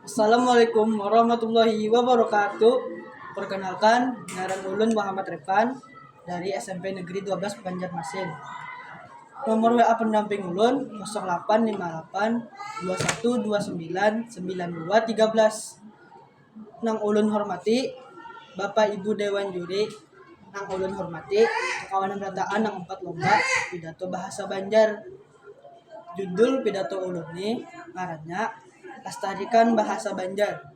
Assalamualaikum warahmatullahi wabarakatuh. Perkenalkan, ngaran ulun Muhammad Rifan dari SMP Negeri 12 Banjarmasin. Nomor WA pendamping ulun 0858 2129 9213. Nang ulun hormati Bapak Ibu Dewan Juri, nang ulun hormati kawanan rataan nang umpat lomba pidato bahasa Banjar. Judul pidato ulun ni ngarannya lastarikan bahasa banjar,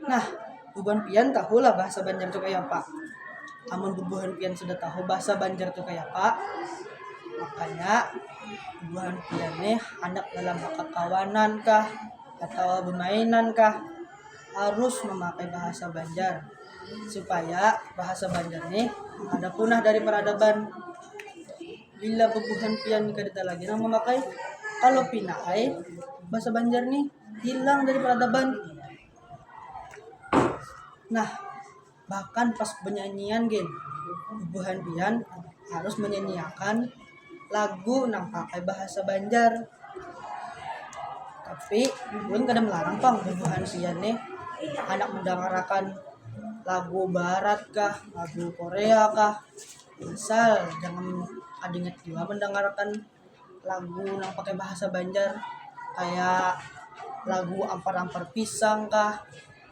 nah bubuhan pian tahu lah bahasa banjar tu kaya apa, amun bubuhan pian sudah tahu bahasa banjar tu kaya apa makanya bubuhan pian nih handak dalam bakakawanan kah atawa bamainan kah harus mamakai bahasa banjar supaya bahasa banjar nih kada punah dari peradaban. bila bebuhan pian kada talagi nang mamakai kalo pina ai bahasa banjar nih hilang dari peradaban nah bahkan pas benyanyian gin bubuhan pian harus menyanyiakan lagu nang pakai bahasa banjar tapi ulun kada melarang pang bubuhan pian nih handak mendangarakan lagu barat kah lagu korea kah. Misal jangan kada ingat jua mandangarkan lagu nang pakai bahasa banjar kaya lagu ampar ampar pisang kah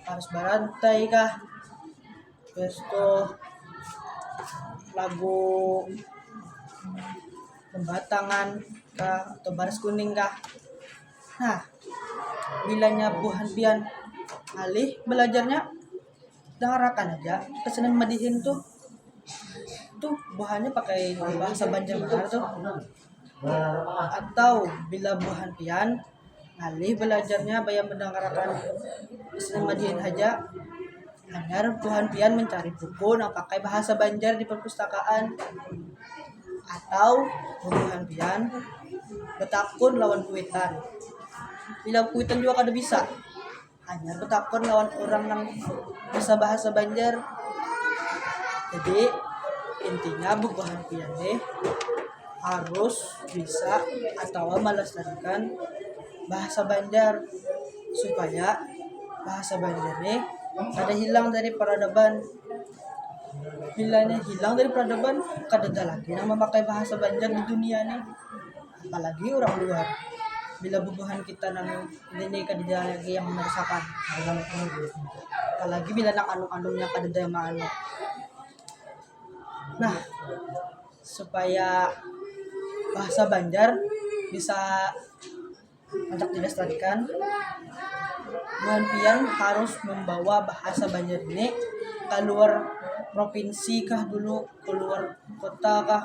paras barantai kah habis tu lagu bambatangan kah atau baris kuning kah nah bilanya buhan pian ngalih balajarnya. dangarakan aja kesenian madihin tuh tuh buhannya pakai bahasa Banjarbanar tuh atau bila buhan pian ngalih belajarnya bayam mendangarakan kesenian madihin haja hanyar buhan pian mencari buku nang pakai bahasa Banjar di perpustakaan atau bubuhan pian betakun lawan kuitan bila kuitan jua kada bisa. Hanyar betakun lawan orang nang bisa bahasa Banjar. Jadi intinya bubuhan pian nih harus bisa atau melestarikan bahasa Banjar supaya bahasa Banjar nih kada hilang dari peradaban. Bila nya hilang dari peradaban kadada lagi nang memakai bahasa Banjar di dunia nih. apalagi orang luar bila bubuhan kita nang ini kadada lagi yang merusakan apalagi bila nang anum-anumnya kadada yang maanu nah supaya bahasa Banjar bisa andak dilestarikan buhan pian harus membawa bahasa Banjar ini kaluar provinsi kah dulu kaluar kota kah.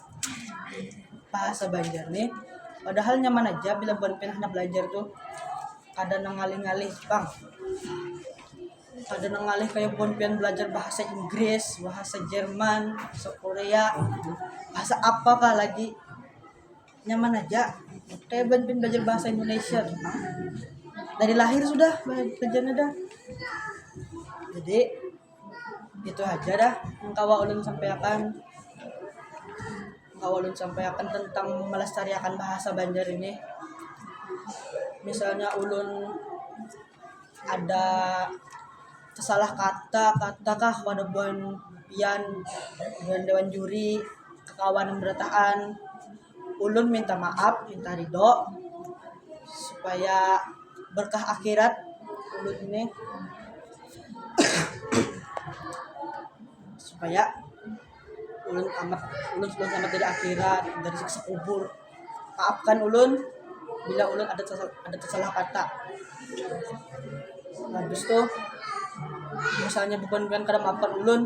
bahasa Banjar nih padahal nyaman aja bila buan pian handak belajar tuh kada nang ngalih-ngalih pang kada nang ngalih kaya buan pian belajar bahasa Inggris bahasa Jerman bahasa Korea bahasa apa kah lagi nyaman aja kaya buan pian belajar bahasa Indonesia tuh pang dari lahir sudah belajarnya dah jadi. itu aja dah yang kawa ulun sampaiakan kawa ulun sampaiakan tentang melestariakan bahasa banjar ini misalnya ulun ada salah kata kata kah pada buhan pian buhan dewan juri kakawanan berataan. ulun minta maaf minta ridho supaya berkah akhirat ulun ni supaya ulun selamat ulun sudah selamat dari akhirat dari siksa kubur maafkan ulun bila ulun ada tersal ada tersalah kata habis tu misalnya bubuhan bubuhan kada maafkan ulun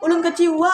ulun kecewa.